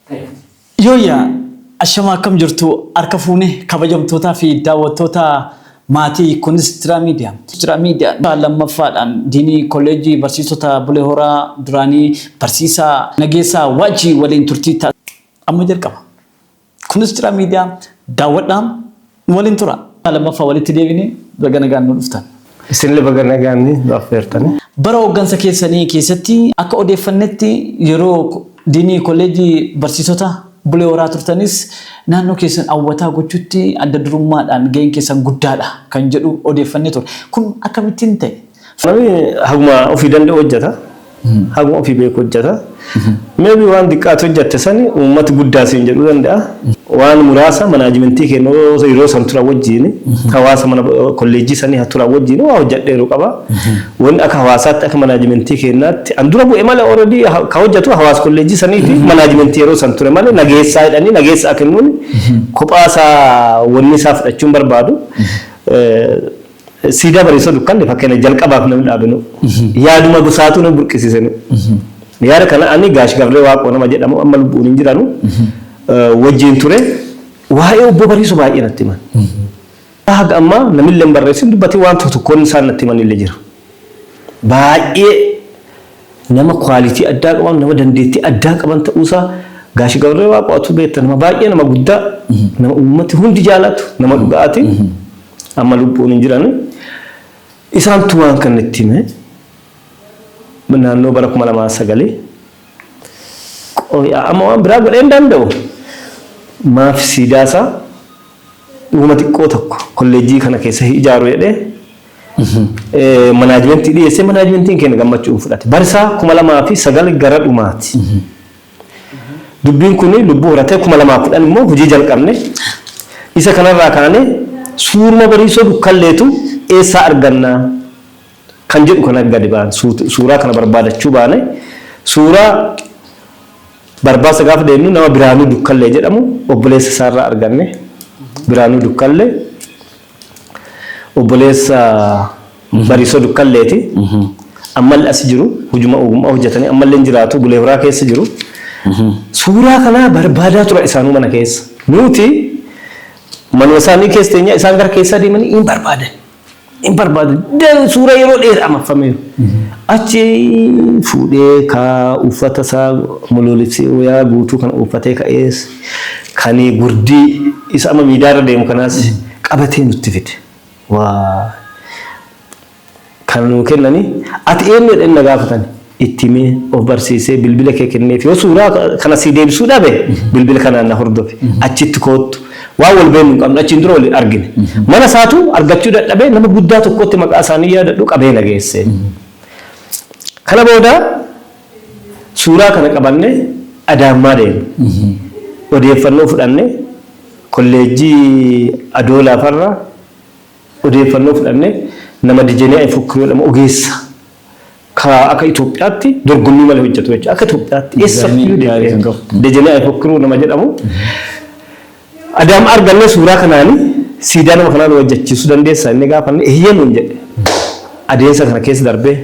ta'e. Yooyyaa! Ashamaa akkam jirtu harka fuune kabajamtootaa fi daawwattoota maatii Kunstira Media. Kunstira Media kutaa lammaffaadhaan Diinii Kolleejjii Barsiisota Bulee Horaa duraanii Barsiisaa Nageessaa Waajjii waliin turtii taasisne amma jalqaba. Kunstira Media daawwadhaa! Nu waliin tura. Lammaffaa walitti deebine baga nagaan nu dhuftan. Isinillee baga nagaan nu affeertani. Bara hooggansa keessanii keessatti akka odeeffannetti yeroo Diinii Kolleejjii Barsiisota Bulee Horaa turtanis naannoo keessan Awwataa gochuutti adda durummaadhaan gaheen keessan guddaadha kan jedhu odeeffannee turre. Kun akkamittiin ta'e? Namni haguma ofii danda'u hojjeta. Haguma ofii beeku hojjeta. Meebii waan xiqqaati hojjette sani uummati guddaa siin jedhuu danda'a. Waan muraasa manaajimentii keenya yeroo san turan wajjin hawaasa mana kolleejjii sanii haa turan wajjin waa hojjedheeru qaba. Wanni akka hawaasaatti akka manaajimentii keenyaatti an dura bu'e malee already ka hojjetu hawaasa kolleejjii sanii fi manaajimentii yeroo san ture malee nageessaa jedhanii nageessaa kennuun kophaa isaa wanni isaa fudhachuun barbaadu. Siidaa Bariisoo Dukkanni fakkeenya jalqabaaf namni dhaabenu yaaduma gosaatuu nama burqisiisenu. Yaada kana ani Gaash Gabree Waaqoo nama jedhamu amma lubbuun hin jiranu wajjin ture waa'ee Obbo Bariisoo baay'ee natti himan. Haga ammaa namillee hin barreessin hin dubbatin waan tokko tokkoon isaan natti himanillee jira. Baay'ee nama kwaalitii addaa qaban nama dandeettii addaa qaban ta'uusaa Gaash Gabree Waaqoo atuu beekta nama baay'ee nama guddaa nama uummati hundi jaalatu nama dhugaati. Amma lubbuun hin jiran. Isaantu waan kana itti hime. Naannoo bara kuma lamaa fi sagalii. Amma waan biraa godhee hin danda'u. Maaf siidaa isaa dhuguma xiqqoo tokko kolleejjii kana keessa ijaaru jedhee manaajimentii dhiyeessee manaajimentiin keenya gammachuun fudhate. Barisaa kuma lamaa fi sagal gara dhumaati. Dubbiin kun lubbuu horatee 2010 immoo hojii jalqabne. Isa kanarraa kaanee suuruma Bariisoo Dukkalleetu eessaa arganna kan jedhu kana gadi baane. Suuraa kana barbaadachuu baane. Suuraa barbaasa gaafa deemnu nama Biraanuu Dukkallee jedhamu obboleessa isaarraa arganne. Biraanuu Dukkallee. Obboleessa Bariso Dukkalleeti. Ammalle asi jiru. Hujuma ogummaa hojjatanii ammalle hin jiraatu. Bulee Horaa keessa jiru. Suuraa kanaa barbaadaa turan isaanuu mana keessa. Nuuti manuma isaanii keessa teenyaa isaan gara keessaa deemanii hin barbaadan. Hin barbaadan. Dan suuraa yeroo dheeraa marfameeru. Achi fuudhee kaa uffata isaa muluulibsee wayaa guutuu kana uffatee ka'ees. Kan gurdii isa amma miidiyaa irra deemu kanaas qabatee nutti fide. Kana nuu kennanii ati eenyu jedhanii na gaafatan itti himee of barsiisee bilbila kee kenneef yoo suuraa kana sii deebisuu dhabe bilbila kanaan na hordofi achitti koottu waan wal beeknu hin qabnu achiin dura wal argine mana isaatu argachuu dadhabee nama guddaa tokkotti maqaa isaanii yaadadhu qabee na geesse. Kana booda Suuraa kana qabannee Adaammaa deemne. Odeeffannoo fudhanne kolleejjii Adoolaa farraa odeeffannoo fudhanne nama Dijenee Ayfukkiroo jedhamu ogeessa ka akka Itoophiyaatti dorgommii malee hojjetu jechuudha. Akka Itoophiyaatti eessayyuu deemee Dijenee Ayfukkiroo nama jedhamu Adaam arganne suuraa kanaani siidaa nama kanaa nu hojjachiisuu dandeessaa inni gaafanne eeyyee nuun jedhe. Adeemsa kana keessa darbee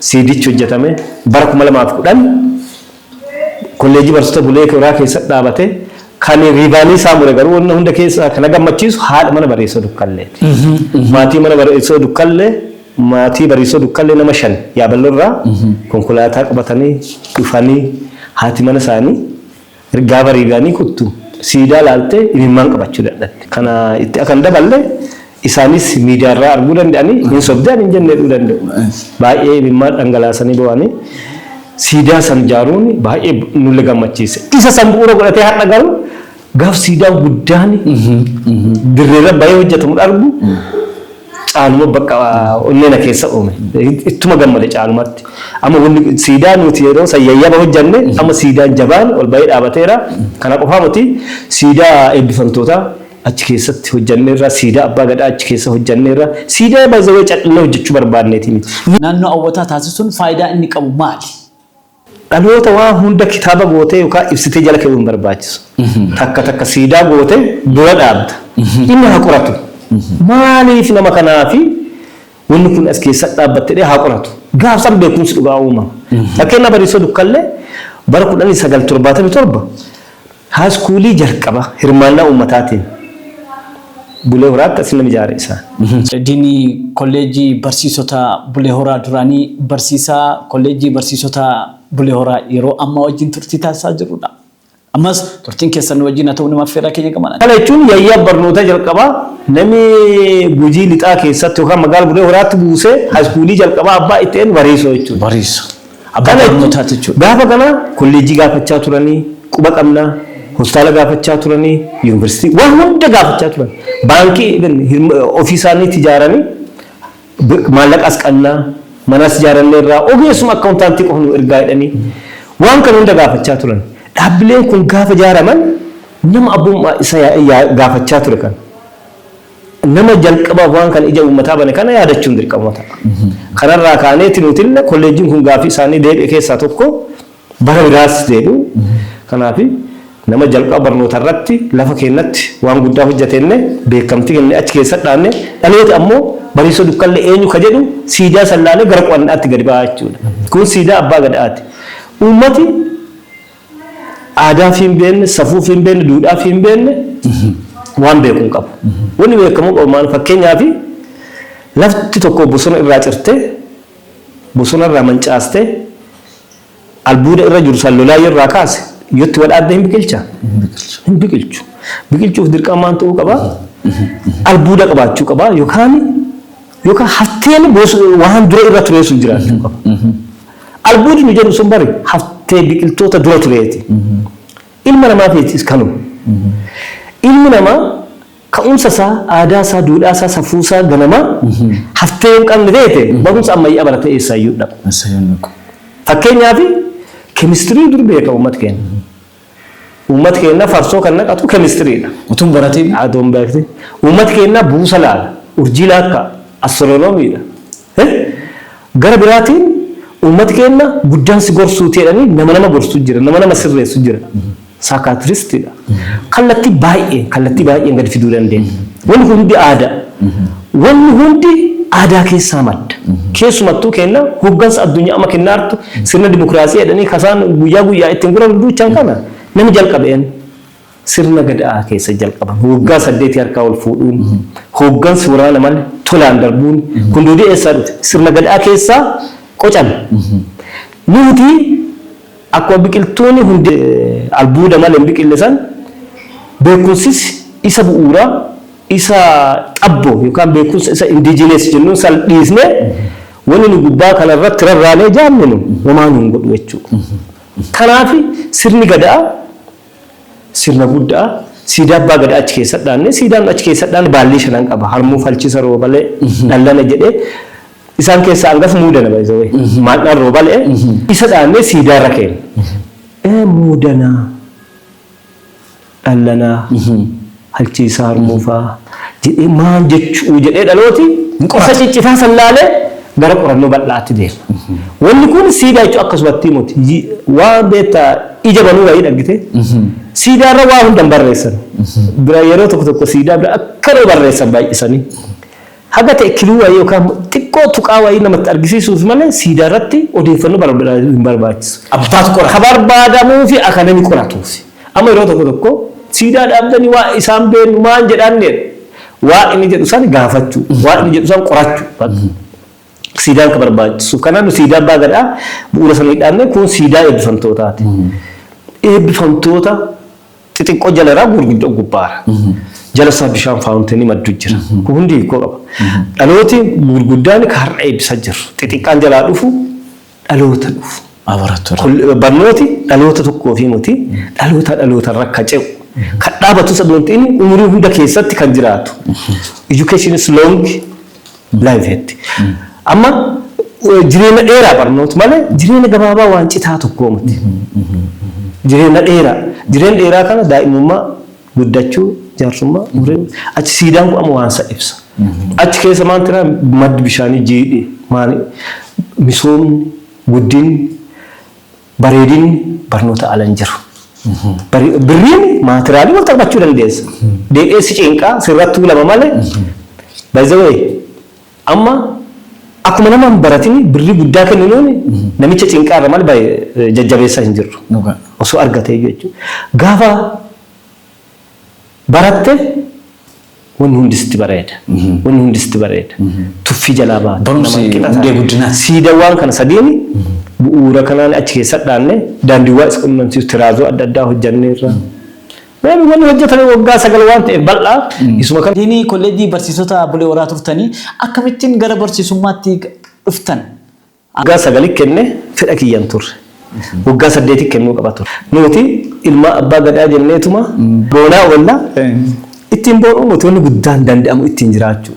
siidichi hojjatame bara 2010 kolleejjii barsiisota Bulee Horaa keessatti dhaabate kan riibaanii isaa mure garuu wanna hunda keessaa kan na gammachiisu haadha mana Bariisoo Dukkalleeti. Maatii mana Bariisoo Dukkallee maatii Bariisoo Dukkallee nama shan Yaaballoo irraa konkolaataa qabatanii dhufanii haati mana isaanii Ergaa bariigaanii kuttu siidaa laaltee imimmaan qabachuu dadhabde. Kana itti akan daballe isaanis miidiyaa irraa arguu danda'anii hin sobde ani hin jenne jedhuu danda'u. Baay'ee imimmaan dhangalaasanii boo'anii siidaa san jaaruun baay'ee nulle gammachiise. Isa san bu'uura godhatee har'a garuu gaaf siidaan guddaan dirreerra bahee hojjatamu dhargu, Caaluma bakka onnee na keessa uume. Ittuma gammade caalumatti. Amma wanni siidaa nuti yeroo san yayyaba hojjanne amma siidaan jabaan ol bahee dhaabateera. Kana qofaa miti siidaa eebbifamtootaa achi keessatti hojjanneerra, siidaa abbaa gadaa achi keessa hojjanneerra. Siidaa by the way cadhannee hojjachuu barbaanneeti miti. Naannoo hawwataa taasisuun faayidaa inni qabu maali? Dhaloota waan hunda kitaaba gootee yookaan ibsitee jala ke'uu hin barbaachisu. Takka takka siidaa gootee dura dhaabda. Inni haa qoratu. Maaliif nama kanaa fi wanni kun as keessa dhaabbatte jedhee haa qoratu. Gaaf san beekumsi dhugaa uumama. Fakkeenyaaf Bariisoo Dukkallee bara 1977 Haaskuulii jalqaba hirmaannaa uummataatiin Bulee Horaatti as nama ijaare isaan. Diini Kolleejjii Barsiisotaa Bulee Horaa duraanii barsiisaa Kolleejjii Barsiisotaa Bulee Horaa yeroo ammaa wajjin turtii taasisaa jirrudha. Ammas turtiin keessan nu wajjin haa ta'u nama affeerraa keenya gamaanan. Kana jechuun yayyaa barnootaa jalqabaa nami Gujii Lixaa keessatti yookaan magaala Bulee Horaatti buusee haaskuulii jalqabaa abbaa itti eenyu? Bariisoo jechuudha. Bariiso. Abbaa Kana barnootaati jechuudha. gaafa kana kolleejjii gaafachaa turanii, quba qabnaa, hospitaala gaafachaa turanii, yuunivarsiitii waan hunda gaafachaa turan. Baankii even hirm- ofii isaaniitti ijaaranii bi- maallaqas qabnaa, manas ijaarannee irraa ogeessuma akkaawuntaantii qofa nu ergaa jedhanii waan kana hunda gaafachaa turan. Dhaabbileen kun gaafa ijaaraman nama abbummaa isa yaa- yaa- gaafachaa ture kana. Nama jalqabaaf waan kana ija uummataa bane kana yaadachuun dirqamuma ta'a. Kanarraa kaaneeti nutille kolleejjiin kun gaaffii isaanii deebi'e keessaa tokko bara biraas jedhu. Kanaafi nama jalqaba barnoota irratti lafa keennatti waan guddaa hojjate jennee beekamtii kennee achi keessatti dhaabne dhalooti ammoo Bariisoo Dukkallee eenyu ka jedhu siidaa san laalee gara qo'annaatti gadi ba'a jechuudha. Kun siidaa Abbaa Gadaati. Uummati. Aadaa fi hin beekne, safuu fi hin beekne, duudhaa fi hin beekne waan beeku hin qabu. Wanni beekamuu qabu maal fakkeenyaaf lafti tokko bosona irraa cirtee bosona irraa mancaastee albuuda irra jiru san lolaa yoo irraa kaase yoo itti wadhaabde hin biqilcha? Hin biqilchu. Biqilchuuf dirqama maal ta'uu qaba? Albuuda qabaachuu qaba yookaan yookaan hafteen waan dura irra turee sun jiraachuu qaba. Albuudni nu jennu sun bar haftee biqiltoota dura tureeti. Ilma namaatiifis kanuma. Ilmi namaa ka'umsa isaa, aadaa isaa, duudhaa isaa, safuu isaa ganamaa haftee yoo hin qabne ta'e barumsa ammayyaa baratee eessaayyuu hin dhaqu. Fakkeenyaaf kemistirii dur beeka uummati keenya. Uummati keenya farsoo kan naqatu keemistiriidha. Utuu hin baratiin. Adoo hin beektin. Uummati keenya buusa laala, urjii laakka'a, astiroonomiidha. Eh? Gara biraatiin uummati keenya guddaan si gorsuuti jedhanii nama nama gorsu jira, nama nama sirreessu jira. Saakaatiristiidha. Kallattii baay'een, kallattii baay'een gadi fiduu dandeenya. Wanni kun hundi aadaa. Wanni hundi aadaa keessaa madda. Keessumattuu keenna hoggansa addunyaa amma kennaa jirtu sirna dimokiraasii jedhanii ka isaan guyyaa guyyaan ittiin guran duuchan kana nami jalqabe eennu? Sirna Gada'aa keessa jalqaban. Woggaa saddeetii harkaa wol fuudhuun, hoggansi woraana male tolaan darbuun kun duudii eessaa dhute? Sirna Gada'aa keessaa qocame. Nuuti akkuma biqiltuuni hundee albuuda male hin biqille san beekumsis isa bu'uuraa, isa xabboo yookaan beekumsa isa indigenous jennuun san dhiisnee wanni nu gubbaa kana irratti rarraanee jaallinu homaa nu hin godhu jechuudha. Kanaafi sirni Gada'aa sirna gudda'a. Siidaa abbaa Gadaa achi keessa dhaanne. Siidaan achi keessa dhaanne baallii shanan qaba. Harmuu falchisa roobalee dhallana jedhee isaan keessaa hangaf muudana by the way. Maadhaan roobalee isa dhaannee siidaa irra keenya. Ee muudanaa dhallanaa, halchiisaa harmuufaa, jedhee maal jechuu jedhee dhalooti qosa ciccitaa san laalee gara qorannoo bal'aatti deema. Wanni kun siidaa jechuun akkasumattii moti. Waan beekta ija banuu wayii dhaggitee siidaa irra waa hunda hin barreessan. Bira yeroo tokko tokko siidaa bira akkanuma barreessan baay'isanii. Haga ta'e kiluu wayii yookaan xiqqoo tuqaa wayii namatti argisiisuuf malee siidaa irratti odeeffannoo barbaaduu hin barbaachisu. Abbatu qora. Ka barbaadamuu fi aka nami qoratuuf. Amma yeroo tokko tokko siidaa dhaabdanii waan isaa hin beeknu maan jedhaan jedha. Waan inni jedhu san gaafachuu, waan inni jedhu san qorachuu bakka. Siidaan ka barbaachisuuf. Kanaaf nu siidaa abbaa gadaa bu'uura sanii dhaabnee kun siidaa eebbifamtootaati. Eebbifamtoota Xixiqqoo jala irraa gurguddoo gubbaara. Jala isaa bishaan faawunteenii maddu jira. Kun hundi hiikoo qaba. Dhalooti gurguddaan ka har'a eebbisa jirru. Xixiqqaan jalaa dhufu dhaloota dhufu. Barnooti dhaloota tokkoo fi muti dhaloota dhaloota irra akka ce'u. Kan dhaabatu isa doonti inni umurii hunda keessatti kan jiraatu. Education is long Blaivetti. Amma eh, jireenya dheeraa barnoota malee jireenya gabaabaa waan citaa tokkoo miti. Jireenya dheeraa. Jireenya dheeraa kana daa'imummaa, guddachuu, jaarsummaa, umurii, achi siidaan kun amma waan isa ibsa. Achi keessa maal jira maddi bishaanii jiidhi maali misoomni guddinni Bareedinni barnoota ala hin jiru. Bari- Birriin maatiraalii wal taphachuu dandeessa. Deebi'ee si cinqaa sirra tuulama malee. By the way, amma akkuma nama hin baratin birrii guddaa kenninuun namicha cinqaa irra malee baay'ee jajjabeessaa hin jirru. Dhugaa. Osoo argatee jechuudha. Gaafa baratte Wanni hundi sitti bareeda. Wanni hundi sitti bareeda. Tuffii jalaa baata. Barumsi Nama qixa hundee taate. guddinaati. Siidawwaan kana sadiin bu'uura kanaan achi keessa dhaanne daandiiwwaa is qunnamsiisu tiraazoo adda addaa hojjanneerra. Waan wanni hojjetame waggaa sagal waan ta'eef bal'aa isuma kana Isiin kolleejjii barsiisota Bulee Horaa turtanii akkamittiin gara barsiisummaatti dhuftan? Waggaa sagali kenne fedha kiyya hin turre. Waggaa saddeeti kennuu qaba ture. Nuuti ilmaa abbaa gadaa jenneetuma boonaa oolla. Ittiin boonuu nuti wanni guddaan danda'amu ittiin jiraachuu.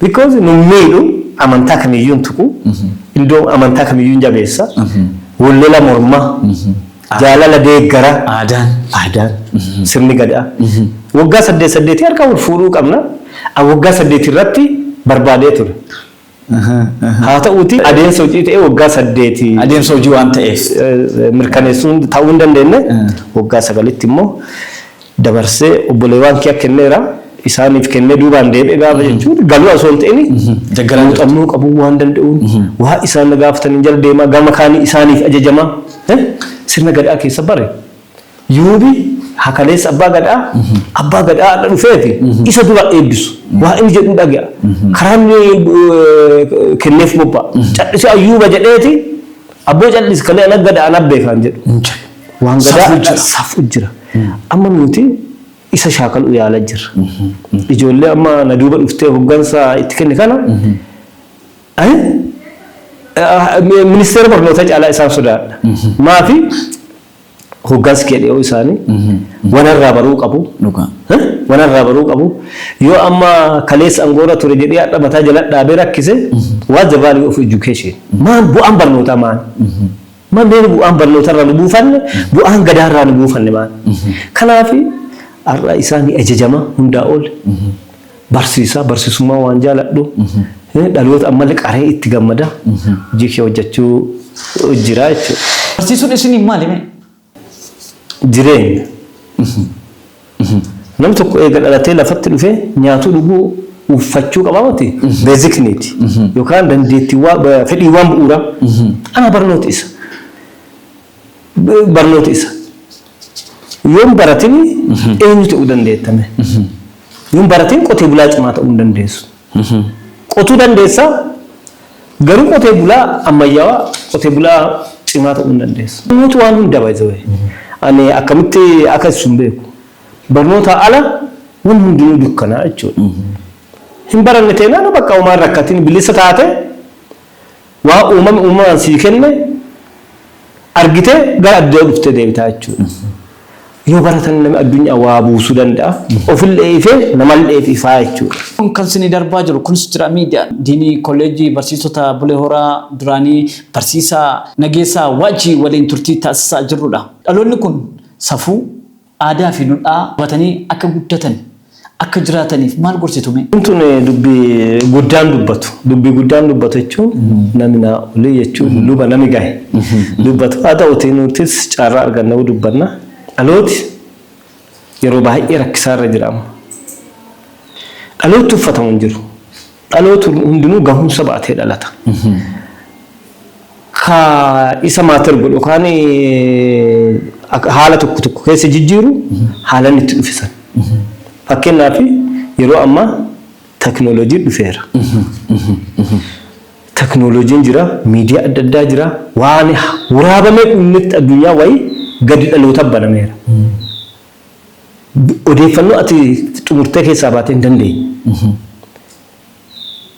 Because nun miidhu amantaa kamiyyuu hin tuqu. Indoo amantaa kamiyyuu hin jabeessa. Wal lola morma. Jaalala deeggara. Aadaan. Aadaan. Sirni gadaa. Waggaa saddeet saddeetii harka wal fuudhuu qabna. An waggaa saddeeti irratti barbaadee ture. Haa ta'uutii adeemsa hojii ta'ee waggaa saddeet. Adeemsa hojii waan ta'eef. Mirkaneessuu ta'uu hin dandeenye waggaa sagalitti immoo dabarsee obboleewwaan kiyya kenneera. Isaaniif kennee duubaan deebi'e gaafa jechuun galuu osoo hin ta'in muuxannoo qabuu waan danda'uun waa isaan na gaafataniin jala deemaa gama kaanii isaaniif ajajamaa sirna gadaa keessa bare. Yuubi ha kaleessa Abbaa Gadaa, Abbaa Gadaa har'a dhufeeti isa dura eebbisu. Waa inni jedhu dhaga'a. Karaa inni kenneef bobba'a. Cal'isi Ayyuuba jedheeti abboo cal'isi kalee ana Gada ana Abbee kaan jedhu. Hin jiru. Waan Gadaa Safuu jira. safuu jira. Amma nuti isa shaakaluu yaala jirra. Ijoollee amma na duuba dhuftee hoggansa itti kenne kana eh, eh, ministeera barnootaa caalaa isaan sodaadha. Maafi Hoggansi kee dhiyoo isaanii wana irraa baruu qabu. Dhugaa. Eh? Wana irraa baruu qabu. Yoo amma kaleessa angoora ture jedhee hadha mataa jala dhaabee rakkise what's the value of education? Maal bu'aan barnootaa maal? Maal mee bu'aan barnootaa irraa nu buufanne bu'aan gadaa irraa nu buufanne maal? Kanaaf har'a isaanii ajajama hundaa ol. Barsiisaa, barsiisummaa waan jaaladhu, dhaloota ammallee qaree itti gammada hojii kee hojjechuu jira jechuudha. Barsiisuun isiniif maali mee? Jireenya. Nam tokko eega dhalatee lafatti dhufee nyaatuu dhuguu uffachuu qabaa miti basic need yookaan dandeettiiwwaa ba- fedhiiwwaan bu'uuraa ana barnooti isa. B- Barnooti isa. Yoon baratini eenyu ta'uu dandeettame? Yoo hin baratiin qotee bulaa cimaa ta'uu hin dandeessu. Qotuu dandeessa garuu qotee bulaa ammayyaawaa qotee bulaa cimaa ta'uu hin dandeessu. Barnooti waan hunda by the way. Ani akkamitti akka ibsu hin beeku. Barnoota ala waan hundinuu dukkanaa jechuudha. Hin baranne teenaan bakka homaa hin rakkatiin bilisa taate Waan uumamni uumamaan sii kenne argitee gara addunyaa dhuftee deebita jechuudha. Yoo baratan namni addunyaa waa buusuu danda'a. Ofillee ifee namalleef ifaa jechuudha. Kun kan isinii darbaa jiru Kunis Jira Media. Diinii Kolleejjii Barsiisota Bulee Horaa duraanii Barsiisaa Nageessaa Waajjii waliin turtii taasisaa jirrudha. Dhaloonni kun safuu, Aadaa fi dudhaa qabatanii akka guddatan, akka jiraataniif maal gorsitu mee? Tun dubbi guddaan dubbatu. Dubbi guddaan dubbatu jechuun nami naa olii jechuun luba nami gahe dubbatu. Haa ta'uutii nutis carraa argannee dubbanna. Dhalooti yeroo baay'ee rakkisaa irra jira amma. Dhalootni uffatamu hin jiru. Dhalooti hundinuu gahumsa ba'atee dhalata. Ka isa maater godhu kaan haala tokko tokko keessa jijjiiru haalan itti dhufisan. Fakkeenyaaf yeroo ammaa teknooloojiin dhufeera. Teknooloojiin jira, miidiyaa adda addaa jira, waan waraabamee dhumnetti addunyaa wayii gadi dhaloota banameera. Odeeffannoo ati xumurtee keessaa baatee hin dandeenye.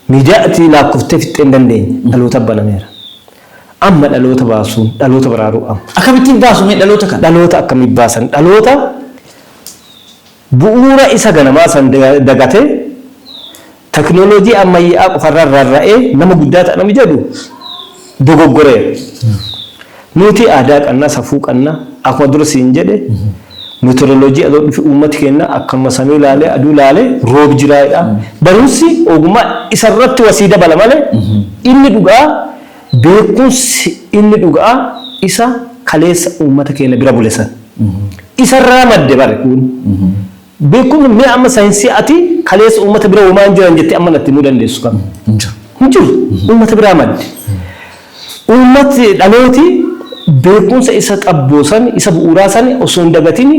Miidiyaa ati laakkoftee fixxee hin dandeenye dhalootaaf banameera. Amma dhaloota baasuun, dhaloota baraaruu amma. Akkamittiin baasu mee dhaloota kana? Dhaloota akkamiin baasan? Dhaloota bu'uura isa ganamaa san dagatee Taknolojii ammayyaa'aa qofarra rarra'ee nama guddaa ta'a namni jedhu dogoggoreera. Nuuti aadaa qanna, safuu qanna. Akkuma dura siin jedhe meteorolojii adoo dhufe uummati keenna akkanuma samii laalee aduu laalee roob jiraa jedha. Barumsi ogummaa isarratti wa sii dabala malee inni dhuga'aa beekumsi inni dhuga'aa isa kaleessa uummata keenna bira bule san. Isarraa madde bari kuun. Beekun mee amma sayinsii ati kaleessa uummata bira homaa hin jiran jettee amma natti himuu dandeessu kam? Hin jiru. Hin jiru. Uummata biraa madde. Uummati dhalooti beekumsa isa xabboo san isa bu'uuraa san osoo hin dagatin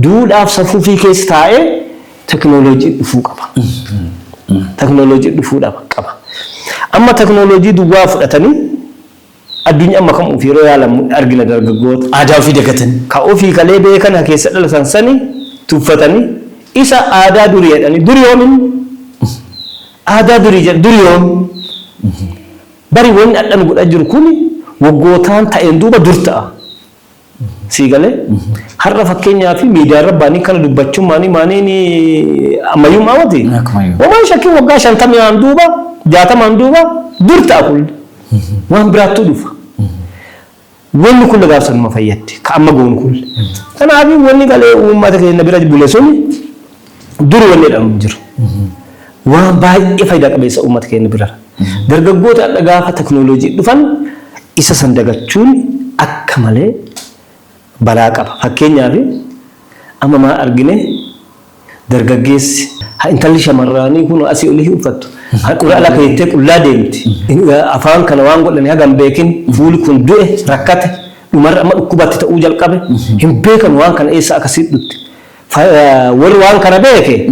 duudhaaf safuufii keessa taa'ee tekinooloojii dhufuu qaba. Tekinooloojii dhufuu qaba. Amma tekinooloojii duwwaa fudhatanii Addunyaa amma kam ufi yeroo yaalamu argina dargaggoota aadaa ufii dagatani ka ufii kalee beekan ha keessa dhalatan sani tuffatani isa aadaa durii jedhani duri yoom inni aadaa durii jedha duri yoom bari wanni adha nu godha jiru kuni woggootaan ta'een duuba dur ta'a. Sii galee? Har'a fakkeenyaa fi miidiyaa irra baanii kana dubbachuun maanii maaniin ammayyummaa mati. Akkumayyuu. Wamaan shakkiin waggaa shantamii aan duuba jaatamaan duuba dur ta'a kun waan biraattuu dhufa. Wanni kun gaaf sanuma fayyaddi ka amma goonu kun. Kanaaf wanni galee uummata keenya bira bule suni Dur wanni jedhamu hin jiru. Waan baay'ee faayidaa qabeessa uummata keenya birara. Dargaggooti har'a gaafa teknooloojiin dhufan isa san dagachuun akka malee balaa qaba. Fakkeenyaaf amma maal argine dargaggeessi intalli shamarraanii kun asii olii uffattu handhuura ala keettee qullaa deemti. Afaan kana waan godhani haga hin beekin fuuli kun du'e rakkate dhumarra amma dhukkubatti ta'uu jalqabe hin beekan waan kana eessa akka siidhutti. Warri waan kana beeke,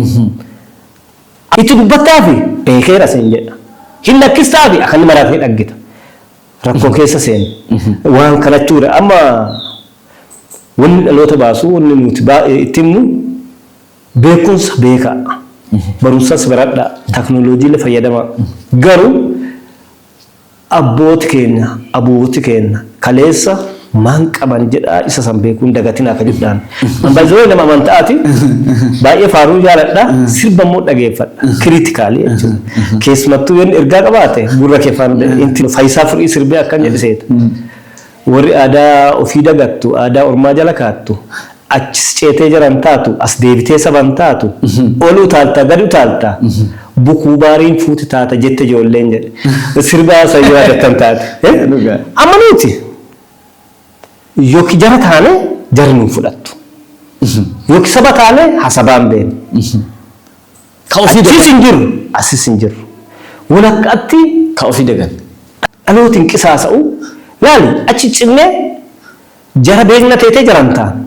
Itti dubbattaafi? Beekeera siin jedha. Hin lakkistaafi? Akka inni maraatee dhaggita. Rakkoo keessa seene. Waan kana jechuu dha. Amma wanni dhaloota baasu, wanni nuti itti himnu, beekumsa beekaa, barumsas baradhaa, taknooloojiillee fayyadamaa. Garuu Abbooti keenya, abooti keenna, kaleessa maan qaban jedhaa isa san beekuu hin dagatinaa ka jedhaan. An by the way nama amanta'aati. Baay'ee faaruu jaaladha. Sirba immoo dhageeffadha. Critically jechuudha. Keessumattuu yoo inni ergaa qabaate gurra kee faana deema. Inti Fayisaa Furii sirbee akkan jedhe seeta. Warri aadaa ofii dagattu, aadaa ormaa jala kaattu, achis ceetee jara hin taatu, as deebitee saba hin taatu, ol utaalta, gad utaalta, bukuu baariin fuuti taata jette ijoolleen jedhe sirba san yoo yaadattan taate. Amma nuti yoki jara taane jarri nu hin fudhattu, yoki saba taane ha sabaan beena. Ka ofii dagan. Achis hin jirru. Asis hin jirru. Wal akka atti. Ka ofii dagan. Dhalooti hin qisaasa'u. Laali, achi cinnee jara beekna teetee jaraan taana.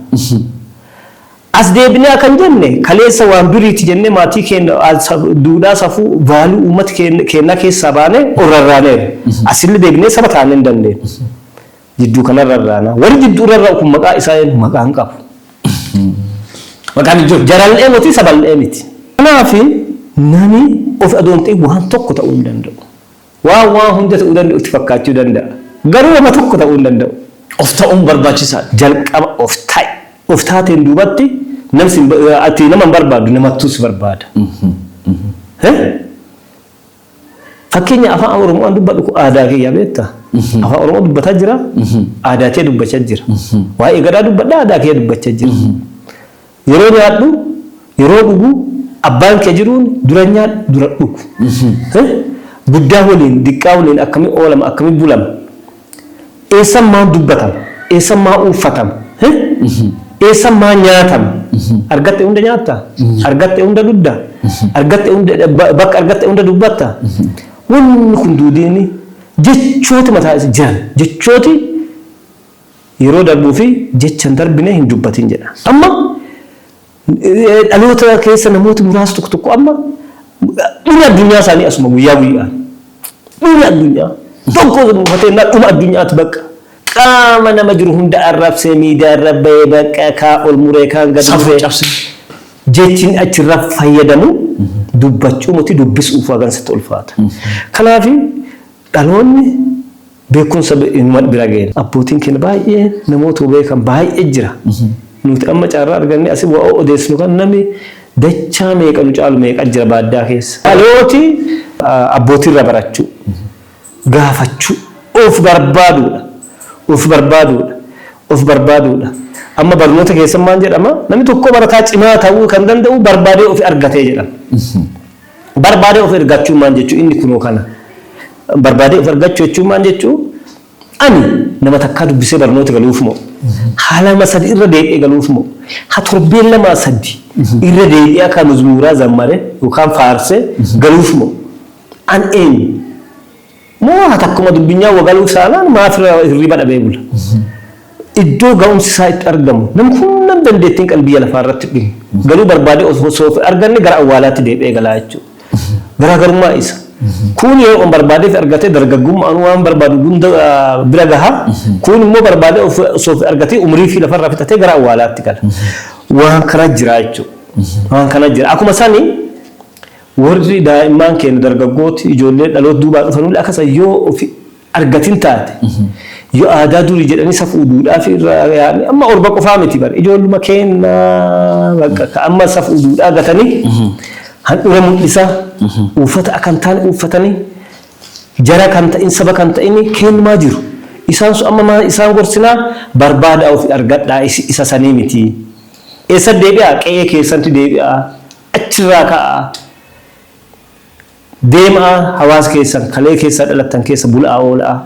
As deebinee akka hin jenne, kaleessa waan duriiti jennee maatii keenna, duudhaa, safuu, value uummata keennaa keessaa baanee ol rarraaneerra. Asille deebinee saba taanee hin dandeennu. Jidduu kana irra irraana. Warri jidduu irra irra kun maqaa isaa eenyu? Maqaa hin qabu. Maqaan hin jiru. Jaral'ee moti sabal'ee miti. Kanaaf nami of adoon ta'e waan tokko ta'uu hin danda'u. Waan waan hunda ta'uu danda'u itti fakkaachuu danda'a. Garuu wama tokko ta'uu hin danda'u. Of ta'uun barbaachisaadha. Jalqaba of ta'i. Of taateen duubatti namsi ati nama hin barbaadu namattuu si barbaada. Eh? Fakkeenya afaan Oromoo an dubbadhu kun aadaa kiyya beekta. Afaan Oromoo dubbataa jira, aadaa kiyya dubbachaa jira. Waa'ee gadaa dubbadha, aadaa kiyya dubbachaa jira. Yeroo nyaadhu, yeroo dhugu, abbaan kiyya jiruun dura nyaadhu, dura dhugu. Guddaa waliin, diqqaa waliin akkamiin oolama, akkamiin bulama. Eessan maa dubbatama? Eessan maa uuffatama? Hih? Eessan maa nyaatama? Argatte hunda nyaatta? Argatte hunda dhudda? Argatte hunda ba- bakka argatte hunda dubbatta? Wanni kun duudiini jechooti mataa isa jiran jechooti yeroo darbuu fi jecha hin darbine hin dubbatin jedha. Amma Dhaloota keessa namooti muraasi tokko tokko amma dhumi addunyaa isaanii asuma guyyaa guyyaan. Dhumi addunyaa. Tokko mufatee na dhuma addunyaati bakka. Qaama nama jiru hunda arrabsee miidiyaa irra bahee bakka kaa ol muree kaan gad Safuu muree. cabsee. Jechiin achirra fayyadamu dubbachuu miti dubbisuuf hagan sitti ulfaata. Kanaaf Dhaloonni beekumsa inuma bira gahe. Abbootiin keenya baay'ee namootuma beekan baay'ee jira. Nuti amma carraa argannee asi wa'oo odeessinu kana namni dachaa meeqa nu caalu meeqa jira baaddaa keessa. Dhalooti abbootii irraa barachuu, gaafachuu, of barbaaduudha. Of barbaaduudha. Of barbaaduudha. Amma barnoota keessan maal jedhama? Namni tokkoo barataa cimaa ta'uu kan danda'uu barbaadee ofi argatee jedhama. Barbaadee of ergaa jechuun maal jechuu? Inni kunoo kana. Barbaadee of ergachuu jechuun maal jechuu? Ani nama takkaa dubbisee barnoota galuuf moo? Ha lama sadi irra deebi'ee galuuf moo? Ha torbeen lamaa sadi irra deebi'ee akka muzmuuraa zammare yookaan faarse galuuf moo? An eenyu? Moo haa takkuma dubbinyaa wagaluu isaanaan maaf hirriba dhabee bula. Iddoo ga'umsi isaa itti argamu namni hundam dandeettiin qal biyya lafaa irratti dhuma. Garuu barbaadee osoo of arganne gara awwaalaatti deebi'ee galaa jechuudha. Garaagarummaa isa. Kuun yoo on barbaadee argatee dargaggummaan waan barbaadu hunda bira gaha. Kuun immoo barbaadee osoo of argatee umrii fi lafarraa fixatee gara awwaalaatti gala. Waan kana jira jechuudha. Waan kana jira. Akkuma sani Worri daa'immaan keenna dargaggooti, ijoollee dhaloota duubaa dhufanulle akka san yoo ufi argatin taate, yoo aadaa durii jedhanii safuu duudhaafii irra yaa'anii, amma orba qofaa miti bar, ijoolluma keenna bakka ka amma safuu duudhaa gatanii, handhura mul'isaa, uuffata akka hin taane uuffatanii, jara kan ta'in, saba kan ta'in keennumaa jiru. Isaan sun amma maa isaan gorsinaa? Barbaadaa ufi argadhaa, isin isa sanii miti. Eessatti deebi'aa? Qe'ee keessantti deebi'aa. Achirraa ka'aa deema'aa hawaasa keessan kalee keessa dhalattan keessa bula'aa oola'aa.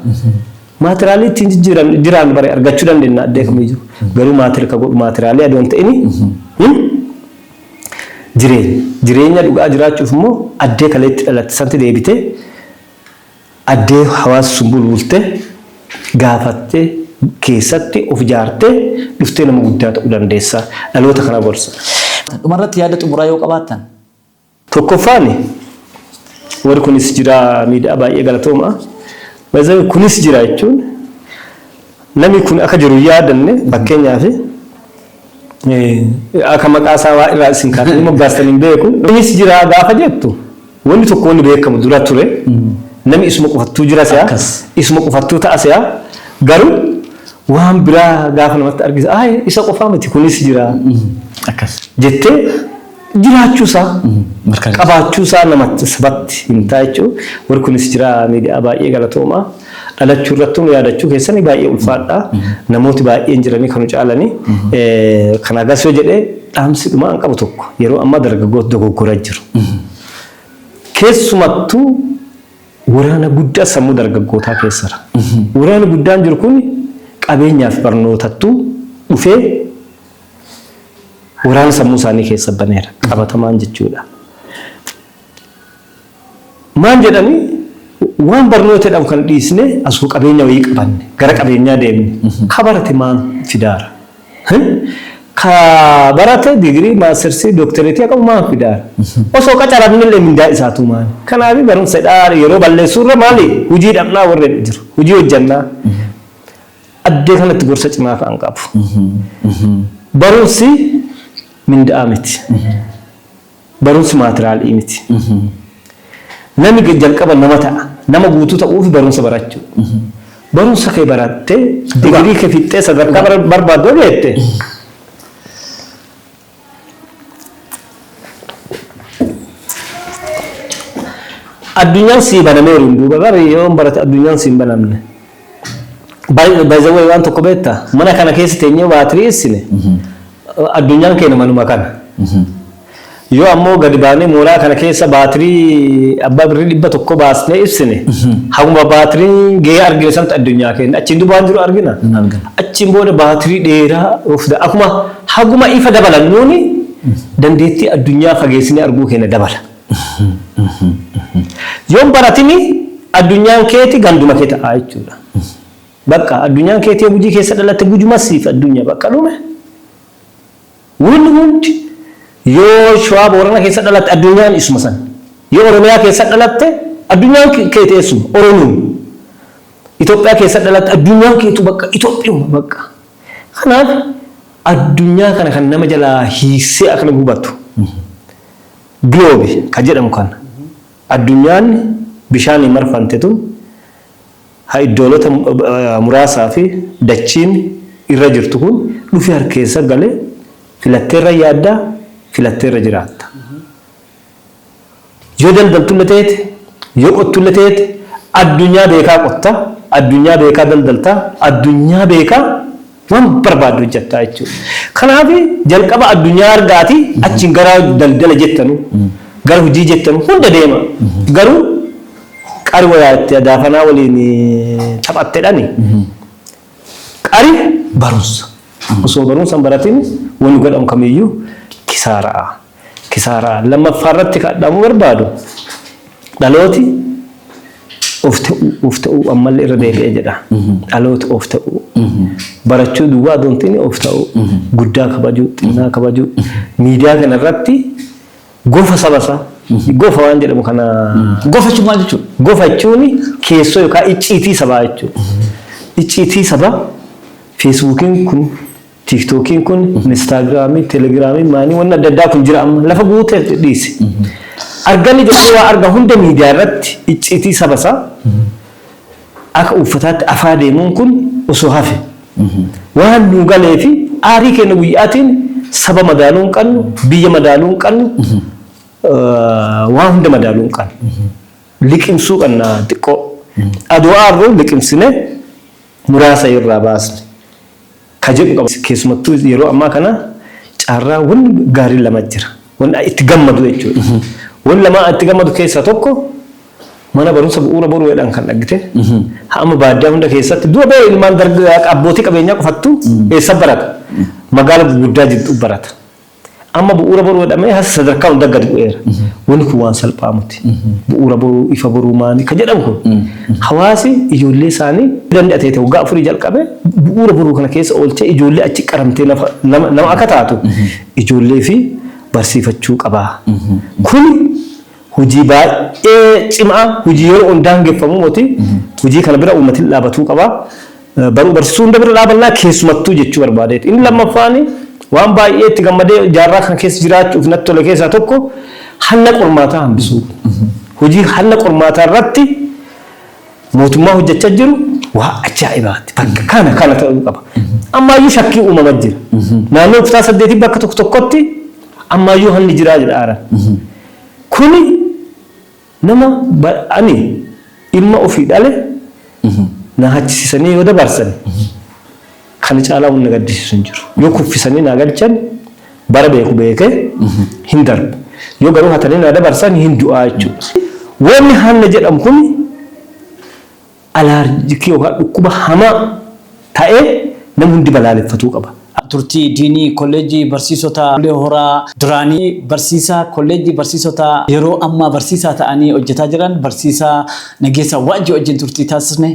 Maatiraalii ittiin jijjiiran jiraannu bari argachuu dandenna addee kamiyyuu. Garuu maatir ka godhu maatiraalii adoo hin ta'ini jireenya. Jireenya dhugaa jiraachuuf immoo addee kaleetti dhalatte santi deebitee Addee Hawaas Sunbul Bultee gaafatte keessatti of ijaartee dhuftee nama guddaa ta'uu dandeessa. Dhaloota kana gorsa. Dhuma irratti yaada xumuraa yoo qabaattan? Tokkoffaan warri kunis jira miidiyaa baay'ee galatoomaa. By the way kunis jira jechuun namni kun akka jiru hin yaadanne fakkeenyaaf Akka maqaa isaa waa irraa isin kaatanii moggaastan hin beeku. Innis jira gaafa jettu wanni tokko wanni beekamu dura ture. Nami isuma qofattuu jira se'a. Isuma qofattuu ta'a se'a. Garuu waan biraa gaafa namatti argisiisu isa qofaa miti kunis jira jettee jiraachuu isaa Mirkaneessa. qabaachuu isaa namatti sabatti himtaa jechuu warri kunis jira miidiyaa baay'ee galatoomaa dhalachuu irratti nu yaadachuu keessanii baay'ee ulfaadha namooti baay'een jiranii kanu caalanii Eh, kana gas yoo jedhee dhaamsi dhumaa an qabu tokko yeroo ammaa dargaggoota dogoggora jiru keessumattuu waraana guddaa sammuu dargaggootaa keessa jira. Waraanni guddaan jiru kun qabeenyaaf barnootattuu dhufee waraana sammuu isaanii keessa baneera qabatamaan jechuudha. Maan jedhanii waan barnoota jedhamu kan dhiisne asuma qabeenya wayii qabanne gara qabeenyaa deemne ka barate maan fidaara. Ka barate digirii maastersii dooktereetii qabu maan fidaara. Osoo qacaramnillee mindaa isaatu maali. Kanaaf barumsa dhaa yeroo balleessuurra maali hojii dhabnaa warra jiru hojii hojjannaa. Addee kanatti gorsa cimaa ta'an qabu. Barumsi minda'aa miti. Barumsi maatiraalii miti. Nami jalqaba nama ta'a. Nama guutuu ta'uuf barumsa barachuu. Barumsa kee barattee digirii kee fixxee sadarkaa barbaaddu geette. Addunyaan sii banamee waliin duuba bari yoo hin barate addunyaan siin banamne. Baay'ee waan tokko beektaa mana kana keessa teenyee waa tiri'issine addunyaan keenya manuma kana. Yoo ammoo gadi baanee mooraa kana keessa baatirii abbaa birrii dhibba tokko baasnee ibsine haguma baatiriin gahee argine sanatti addunyaa keenya achiin duuba waan jiru argina. Hin argina. Achiin booda baatirii dheeraa of da- akkuma Haguma ifa dabalannuun dandeettii addunyaa fageessinee arguu keenya dabala. Yoo hin baratin addunyaan keeti ganduma kee ta'a jechuudha. Bakka addunyaan keeti yoo Gujii keessa dhalatte Gujuma siif addunya bakka dhume. Win win yoo Shawaa Boorana keessa dhalatte addunyaan isuma san. Yoo Oromiyaa keessa dhalatte addunyaan keeti eessuma Oromiuma. Itoophiyaa keessa dhalatte addunyaan keetu bakka Itoophiyuma bakka. Kanaaf addunyaa kana kan nama jalaa hiiksee akka namni hubatu globe kan jedhamu kana addunyaan bishaaniin marfamte tun ha iddoolota muraasaa fi dachiin irra jirtu kun dhufee harka keessa galee filatteerra yaadda filatteerra jiraatta. Yoo daldaltulle teete, yoo qottulle teete, addunyaa beekaa qotta, addunyaa beekaa daldalta, addunyaa beekaa waan barbaadde hojjatta jechuudha. Kanaafi, jalqaba addunyaa argaati, achiin gara daldala jettanu, gara hujii jettanu hunda deema. Garuu, qari woyaa itti adaafanaa waliin taphattedhani. Qari barumsa. Osoo barumsa hin baratin wonni godhamu kamiyyuu kisaara'a. Kisaaraa lammaffaa irratti kan dhaamuu barbaadu dhalooti of ta'uu of ta'uu ammallee irra deebi'ee jedha. Dhalooti of ta'uu barachuu duwwaa osoo hin ta'in of ta'uu guddaa kabajuu xinnaa kabajuu miidiyaa kana irratti gofa saba isaa gofa waan jedhamu kana Gofa jechuun maal jechuudha? gofa jechuun keessoo yookaan icciitii sabaa jechuudha. Icciitii sabaa feesbuukiin kun Tiktookiin kun, Instaagiraamiin, Telegiraamiin, maanii wanni adda addaa kun jira amma. Lafa guute dhiise. Arganni jedhanii waa arga hunda miidiyaa irratti icciitii saba isaa akka uuffataatti afaa deemuun kun osoo hafe. Waan nuu galee fi aarii keenya guyyaatiin saba madaaluu hin qabnu, biyya madaaluu hin qabnu, waan hunda madaaluu hin qabnu. Liqimsuu qabna xiqqoo. Adoo aarru liqimsinee muraasa irraa baasne ka jedhu qaba. Keessumattuu yeroo ammaa kana carraa wanni gaariin lama jira. Wanni itti gammadu jechuudha. Wanni lamaa itti gammadu keessaa tokko mana barumsa bu'uura boruu jedhan kan dhaggite. Amma baadiyyaa hunda keessatti dura bee ilmaan dargaggaa abbootii qabeenyaa qofattu eessa barata? Magaala gurguddaa jirtu barata. Amma bu'uura boruu jedhamee hasa sadarkaa hundaa gadi bu'eera. Wanni kun waan salphaa miti. Bu'uura boruu, ifa boruu maani kan jedhamu kun hawaasi ijoollee isaanii danda'a ta'e waggaa afurii jalqabee bu'uura boruu kana keessa oolchee ijoollee achi qaramtee nafa- nama nama akka taatu ijoollee fi barsiifachuu qaba. Kuni hujii baay'ee cimaa hujii yeroo on daangeffamuu moti hujii kana bira uummatin dhaabatuu qaba baruu barsiisuu hunda bira dhaabannaa keessumattuu jechuu barbaadeeti inni lammaffaani waan baay'ee itti gammadee jaarraa kan keessa jiraachuuf natti tole keessaa tokko hanna qormaataa hambisuu hujii hanna qormaataa irratti mootummaa hojjechaa jiru waa ajaa'ibaati bakka kana kana ta'uu qaba ammaayyuu shakkii uumama jira naannoo kutaa saddeetii bakka tokko tokkotti ammaayyuu hanni jiraa jedha aaran Kuni nama ani ilma ofii dhale na hachisisanii yoo dabarsan kana caalaa wanni na gaddisiisu hin jiru. Yoo kuffisanii naa galchan bara beeku beekee hin darba. Yoo garuu hatanii naa dabarsan hin du'aa jechuudha. Wanni hanna jedhamu kuni. Alaarjikii yookaan dhukkuba hamaa tae nam hundi balaaleffatuu qaba. Turtii Diinii Kolleejjii Barsiisota Bulee Horaa duraanii Barsiisaa Kolleejjii Barsiisotaa yeroo ammaa Barsiisaa ta'anii hojjetaa jiran Barsiisaa Nageessaa Waajjii wajjin turtii taasisne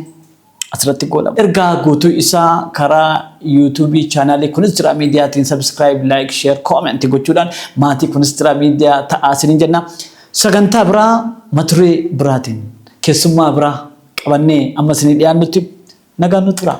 asirratti goolaba. Ergaa guutuu isaa karaa YouTube Channel Kunistraa Mediatiin Subscribe, Like, Share, Comment gochuudhaan maatii Kunistraa Media ta'aa isiniin jenna. Sagantaa biraa maturee biraatiin, keessummaa biraa qabannee amma isinii dhiyaannutti nagaan nu turaa.